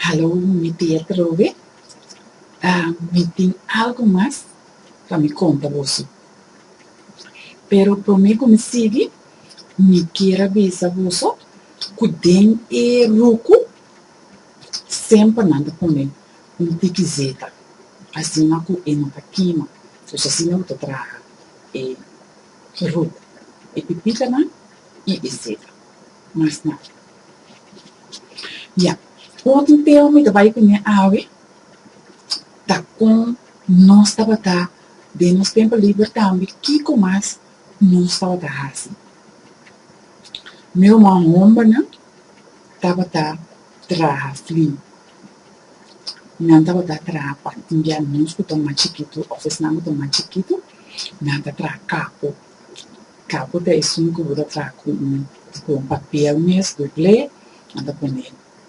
Hallo, mi tia Trobe. Mi tin algu mas pa mi konta boso. Pero promé ku mi sigui, mi kier a bisa boso ku den e ruku semper nan ta pone un tiki zeta, asina ku e no ta kima, dus asina bo ta traha e ruku, e pipitanan i e zeta. Mas nada. Ya, otro tema mi ta bai ku ña awe ta kon nos tabata den nos tempu liber tambe kiko mas nos tabata hasi. Mi ruman hombernan tabata traha flin, nan tabata traha pa timbial nos ku ta mas chikitu òf esnan ku ta mas chikitu nan ta traha kapo. Kapo ta esun ku bo ta traha ku un ku un papiel mes dublé, nan ta pone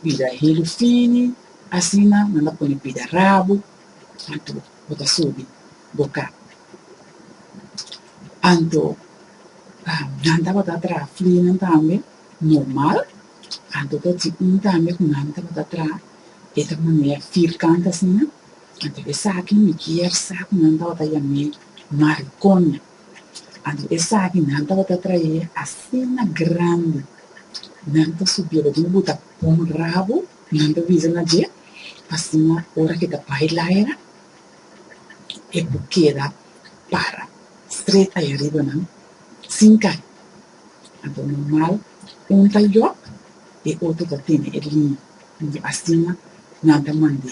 bida helu fini, asina nan ta pone bida rabu anto bo ta subi bo kap. Anto, nan tabata traha flinan tambe normal, anto ta tin un tambe ku nan tabata traha e ta manera firkant asina, anto esaki mi kier sa ku nan tabata yam'é maricoña. Anto esaki nan tabata traé asina grandi, nan ta subié den e buta pon rabu, nan ta bisa na dje, asina ora ke ta bai laira e por keda para stret ahi ariba nan sin kai. Anto normal un ta yok e otro ta tene e liña, anto asina nan ta mand'é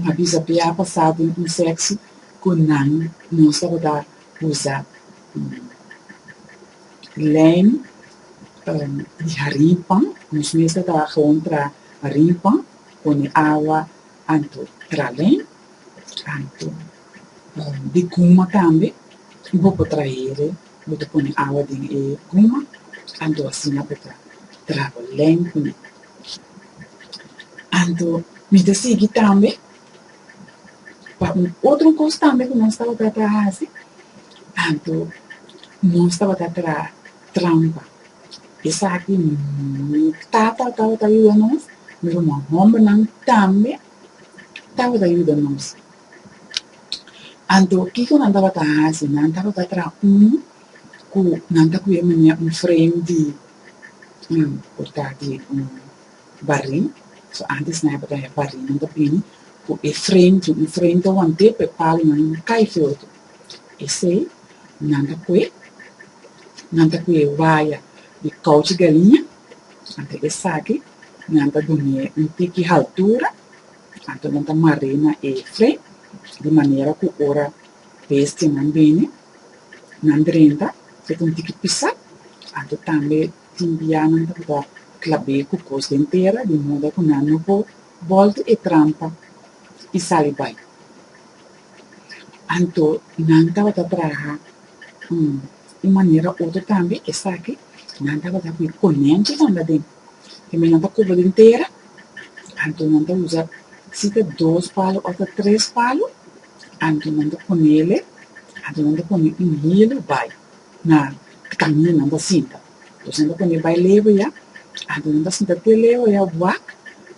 N a bisa pia pa sa den un sekso ku nan no tabata usa lèn di harin pan. Nos mester ta gewoon tra harin pan, pone awa anto tra lèn, anto di guma tambe i bo por trahere. Bo ta pone awa den e guma, anto asina bo ta traha len kuné. Anto mi ta sigui tambe pa un otro kos tambe ku nos tabata ta hasi, anto nos tabata traha trampa. Esaki mi tata tabata yuda nos, mi ruman hòmbernan tambe tabata yuda nos Anto, kiko nan tabata hasi? Nan tabata traha un ku nan ta kuye manera un frame di un porta di un barin. So, antes nan tabata haya barin, nan ta bini ku e frame di un frame ta want'é pa e palonan kai feho tu. Esei nan ta kue, nan ta kuye waya di kouchi galiña, anto esaki nan ta duni'é un tiki haltura. Anto nan ta mar'é na e fle, di manera ku ora bestianan bini, nan drenta e ta un tiki pisá. Anto tambe tin bia nan ta tabata klab'é ku kos den tera, di moda ku nan no por bòlta e trampa i sali bai. Anto nan tabata traha un manera otro tambe, esaki nan tabata ku e konentonan laden. E mennan ta kubri den tera, anto nan ta usa si ta dos palu of ta tres palu, anto nan ta ponele, anto nan ta pone un hilu bai na kaminda nan ta sinta. Entonces nan ta pone bai leho ya, anto nan ta sinta te leho ya wak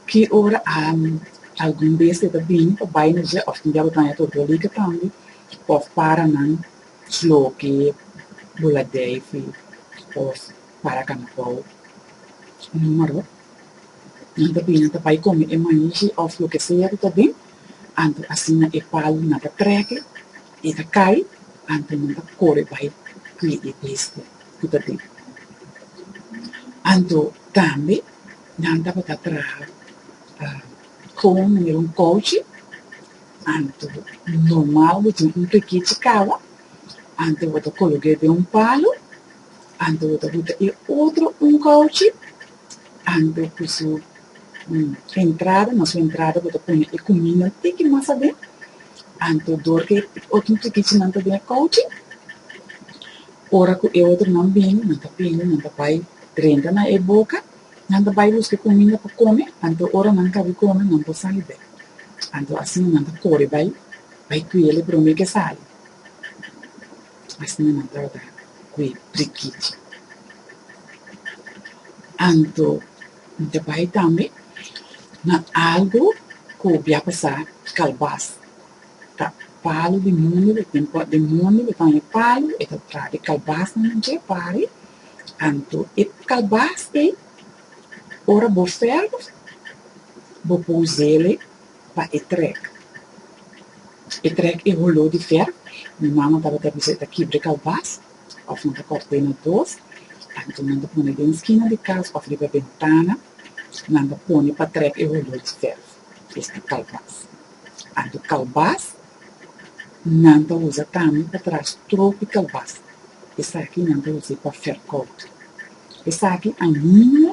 ki ora algun bestia ta bini pa bai nos ya of tin diabe tanda ya ta doliga tambe of para nan sloke, buladeifi of. para Canabaw. Numero nan ta bini ta bai come e maischi of loke sea cu ta den, anto asina e palu nan ta treke, e ta cay, anto nan ta core bai cui e besti cu ta den. Anto tambe nan tabata traha con numero un couchi, anto normal bo tin un pekichi caba, anto bo ta cologe den un palu, Anto bo ta buta e otro un kouchi, anto ku su entrada, na su entrada bo ta pone e kumindanan tiki mas aden, anto dor ku e otro tukichinan ta den e kouchi, ora ku e otronan bini, nan ta bini, nan ta bai drenta na e boka, nan ta bai buska e kuminda pa kome, anto ora nan kabi kome nan por sali bek, anto asina nan ta kore bai bai kuel e promé ke sali. Asina nan trata ku e prikichi. Anto mi ta bai tambe na algu ku bia pasa kalbas. Ta palu di mundu, di tempu di mundu ku tabaña palu, e ta traha e kalbas nan dje pari. Anto e kalbas ei, ora bo ferve, bo por us'e. pa e trek. E trek e huló di fer, mi mama tabata bisa e ta kibre kalbas òf nan ta kòrt'é na dos, anto nan ta pone den skina di kas òf riba bentana, nan ta pone pa trek e huló di fer, es di kalbas. Anto kalbas nan ta usa tambe pa traha strok di kalbas, esaki nan ta us'é pa fer kòut. Esaki ainda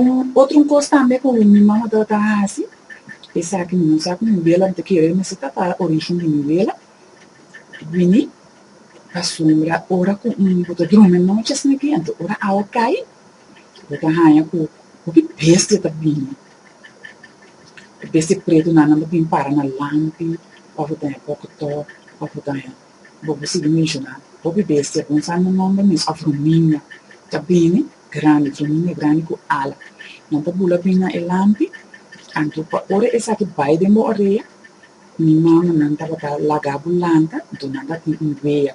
Un otro cos tambe cu mi mama ta ta haci, esaki mi no sa cu mi vela, mi ta kere mester ta pa origen di mi vela, bini, pasobra ora cu bo ta drumi nochi asina kiente, ora awa cay, bo ta haya cu hopi bestia ta bini, bestia pretonan nan ta bin para na lampi, of bo ta haya poco too, of bo ta haya. Bo por sigui menshoná hopi bestia ku no sa nan nòmber mes òf rumiña ta bini grandi, rumiña grandi ku ala. Nan ta bula bini na e lampi, anto pa ora esaki bai den bo orea, mi mamanan tabata laga bo lanta dor nan ta tin un wea.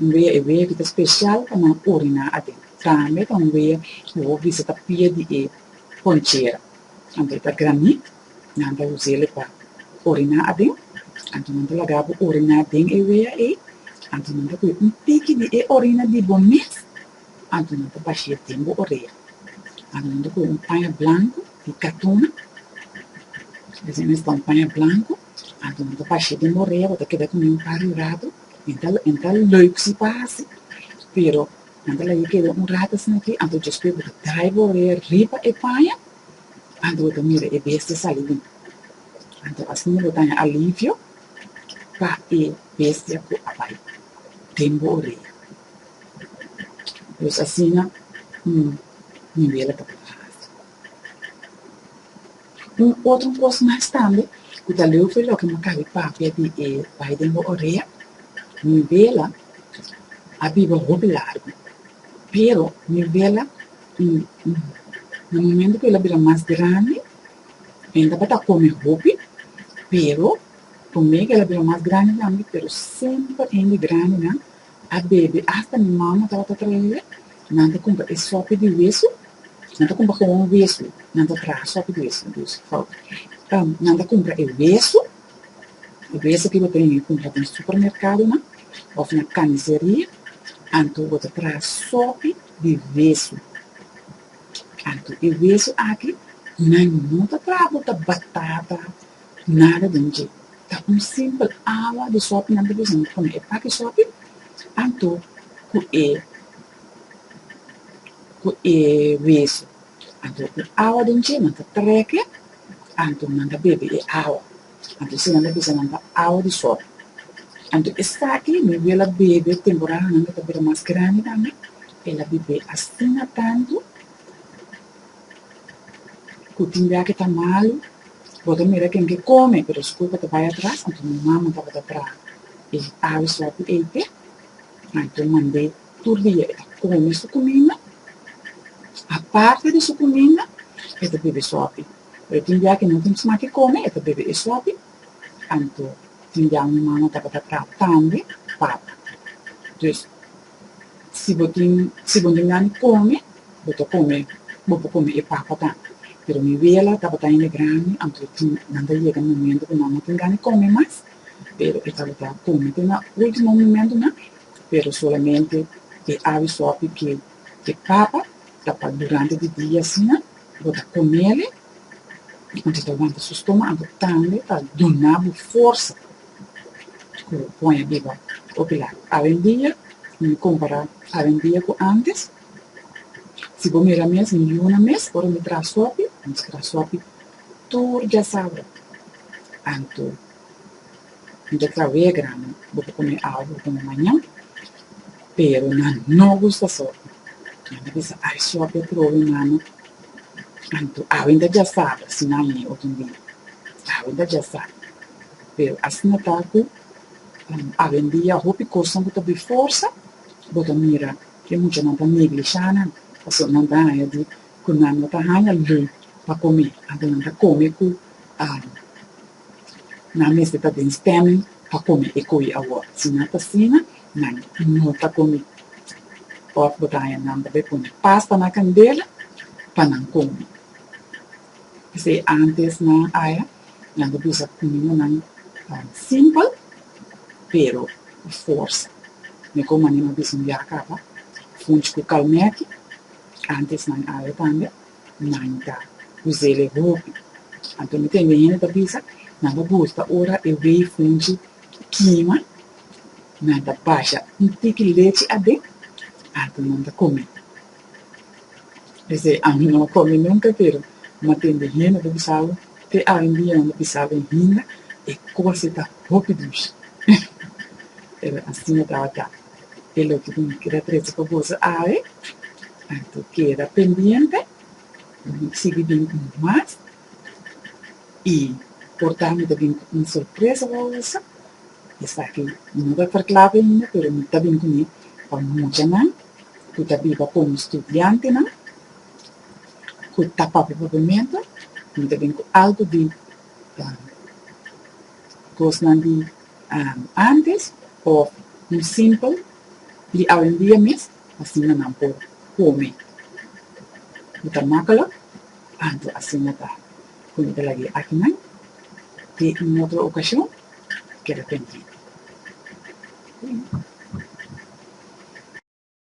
Un wea, e wea ki ta spesial pa nan oriná aden. Tambe ta un wea ku hopi bista ta pia di e ponchera, anto e ta granit. Nan ta us'el pa oriná aden, anto nan ta laga bo oriná den e wea ei, anto nan ta kuye un tiki di e orina di bo mes, anto nan ta bashi'e den bo orea. Anto nan ta kuye un paña blanku di katuna, esei mes ta un paña blanku, anto nan ta bashi'e den bo orea, bo ta keda ku nan par di ratu, nan ta nan ta lùik si pa hasi, pero nan ta laga e keda un ratu asina aki, anto djospe bo ta traha bo orea riba e paña. Anto bo ta mira e bestia sali bin. Anto asina bo ta haña alivio pa e bestia ku a bai den bo orea. Pues asina un niwela ta por hasi. Un otro kos mas tambe ku ta leu fe loke maka di papia di e bai den bo orea, niwela a biba hopi largu, pero niwela I na momento ku el a bira mas grandi, el tabata kome hopi, pero promé ku el a bira mas grandi tambe, pero semper hende grandinan a bebe, asta mi mama tabata trae, nan ta kumpra e sopi di wesu, nan ta kumpra gewoon wesu, nan ta traha sopi di wesu, dus nan ta kumpra e wesu, e wesu ku bo ta bini kumpra den supermerkadonan òf na kaniseria, anto bo ta traha sopi. di wesu. Anto e wesu aki nan no ta traha ku ta batata ni nada den dje, ta un simpel awa di sopi nan ta bisa nan ta pone e paki sopi, anto ku e ku e wesu. Anto ku awa den dje nan ta treke, anto nan ta bebe e awa. Anto esnan a bisa nan pa awa di sòl. Anto esaki mi wia el a bebe, temporahanan e ta bira mas grandi tambe, el a bebe astina tantu ku tin bia ke ta malu, bo ta mira ken ke kome, pero su kurpa ta bai atras, anto mi mama tabata traha e aves wak di eite, anto mand'é tur dia e ta kome su kuminda, aparte di su kuminda e ta bebe sòpi. Pero tin dia ke nan tin sma ke kome e ta bebe e sopi, anto tin dia un mama tabata tra tambe papa. Dus si bo tin si bo tin gana di kome bo ta kome bo por kome e papa tambe. Pero mi wela tabata hende grandi anto e tin nan ta yega momento ku nan no tin gana di kome mas pero e tabata kome te na ultimo momentonan pero solamente e awe sopi ke e papa ta pa durante di dia asina. Bo ta komele i konta ta wanta su stomago, tambe ta duna bo forsa ku poña biba. Hopi lak awendia, mi kompara awendia ku antes, si bo mira mes mi yuna mes ora mi traha sopi, mi ta traha sopi tur diasabra, anto. Anto ta wea grami, bo por kome awe, bo por kome mañan, pero nan no gusta so. Nan ta bisa, ay, suape a probe mano, anto awe nta djasaba, si nan yin otro un dia. Awe nta djasa. Pero asina ta ku awe un dia hopi kosnan ku ta bai forsa, bo ta mira e muchanan ta neglishá nan, pasobra nan ta haña di ku nan no ta haña lon pa kome, anto nan ta kome ku. Nan mester ta den stemming pa komi e koe awor. Si nan ta asina, nan no ta komi. Òf bo ta haña nan ta bai pone pasta na kandela pa nan komi. P'esei ántes nan haña, nan debe usa kumindanan simpel, pero ku forsa. Mihó manera nan bisa un yaka pa funchi ku kalmèki ántes nan haña tambe. nan ta us'el e hopi. Anto mi tende hende ta bisa, nan ta buska ora e wei funchi kima, nan ta basha un tiki lechi aden, anto nan ta kome. P'esei ami no a kome nunka, pero mi a tende hende ta bisabo, te awendia nan ta bisa den hinga, e kos ei ta hopi dushi. Pero asina tabata. Ke loke ku mi keda trese pa boso awe, anto keda pendiente pa mi sigui bin ku mas i por tambe bin ku un sorpresa pa boso. Esaki mi no ta ferkla be ainda, pero mi ta bin ku mi pa mucha nan ku ta biba komo studiantenan ku ta papia papiamento. Mi ta bin ku algu di kosnan di. antes òf un simpel di awendia mes, asina nan por kome ku ta makelek, anto asina ta kon e ta lag'é e akinan te un otro okashon, keda pendiente.